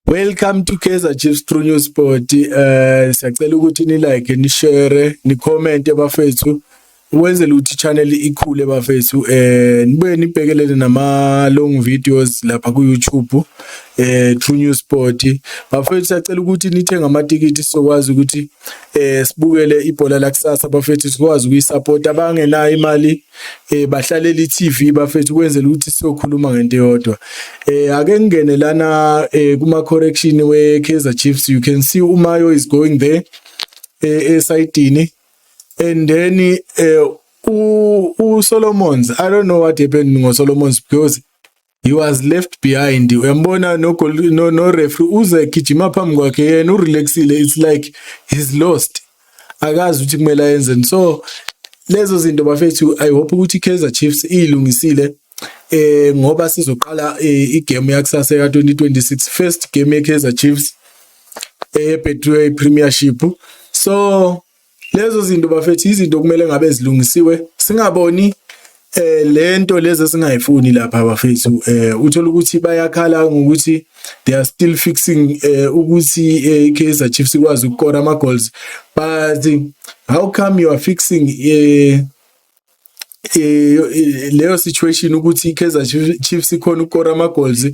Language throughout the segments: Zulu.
Welcome to Kaizer Chiefs True News Sport. Eh siyacela ukuthi ni like, ni share, ni comment bafethu. Wenzele ukuthi channel ikhule bafethu. Eh nibe nibhekelele nama long videos lapha ku YouTube. Eh True News Sport. Bafethu siyacela ukuthi nithenge amatikiti sokwazi ukuthi eh sibukele ibhola lakusasa bafethu sikwazi ukuyisupport abangenayo imali eh bahlalela iTV bafethu kwenzela ukuthi sizokhuluma ngento eyodwa eh ake ngingene lana eh kuma correction we Kaizer Chiefs you can see uMayo is going there eh esayidini and then eh u Solomons i don't know what happened ngo Solomons because he was left behind uyambona no goal no, no referee uze gijima phambi kwakhe yena u relaxile it's like he's lost akazi ukuthi kumele ayenzeni so lezo zinto bafethu i hope ukuthi Kaizer Chiefs ilungisile eh ngoba sizoqala eh, igame yakusasa ka 2026 first game ye Kaizer Chiefs eh Betway Premiership so lezo zinto bafethu izinto okumele ngabe zilungisiwe singaboni eh lento lezi esingayifuni lapha bafethu eh uthola ukuthi bayakhala ngokuthi they are still fixing eh ukuthi eh, iKaizer Chiefs ikwazi ukukora ama goals but how come you are fixing eh eh leyo situation ukuthi iKaizer Chiefs ikhona ukora ama goals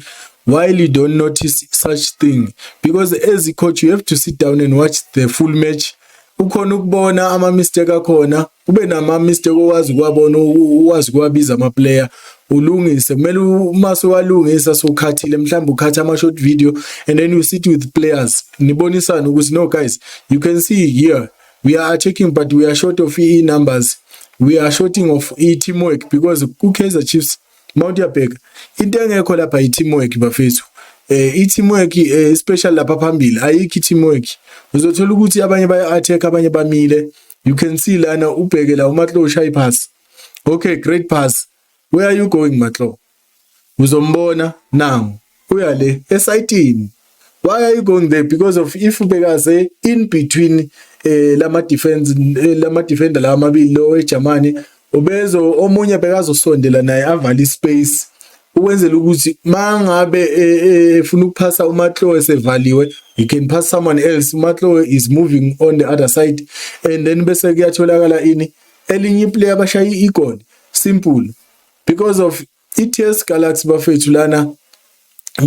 why you don't notice such thing because as a coach you have to sit down and watch the full match ukhona ukubona ama mistake akhona ube nama mistake owazi kwabona uwazi kwabiza ama player ulungise kumele uma sewalungisa sokhathile mhlawumbe ukhatha ama short video and then you sit with players nibonisana ukuthi no guys you can see here we are attacking but we are short of e numbers we are shorting of e teamwork because ku Kaizer Chiefs mawuthi uyabheka into engekho lapha i teamwork bafethu eh i teamwork eh, especially lapha phambili ayikho i teamwork uzothola ukuthi abanye baya attack abanye bamile you can see lana ubheke la umatlo ushaya ipass okay great pass where are you going matlo Uzombona nangu uya le esayitini. Why are you going there? Because of if bekaze in between eh lama defense eh, lama defender lawa amabili lo eGermany ubezo omunye bekazosondela naye avale ispace ukwenzela ukuthi mangabe eh, eh, efuna ukuphasa uMatlo esevaliwe you can pass someone else uMatlo is moving on the other side and then bese kuyatholakala ini elinye iplayer abashaya igoli simple because of iTS Galaxy bafethu lana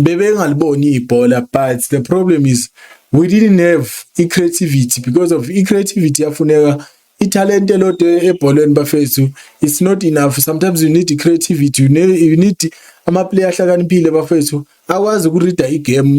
bebengaliboni ibhola but the problem is we didn't have i-creativity because of i-creativity yafuneka ithalente lodwa ebholweni bafethu it's not enough sometimes you need creativity you need, you need ama-player ahlakaniphile bafethu akwazi ukurida igame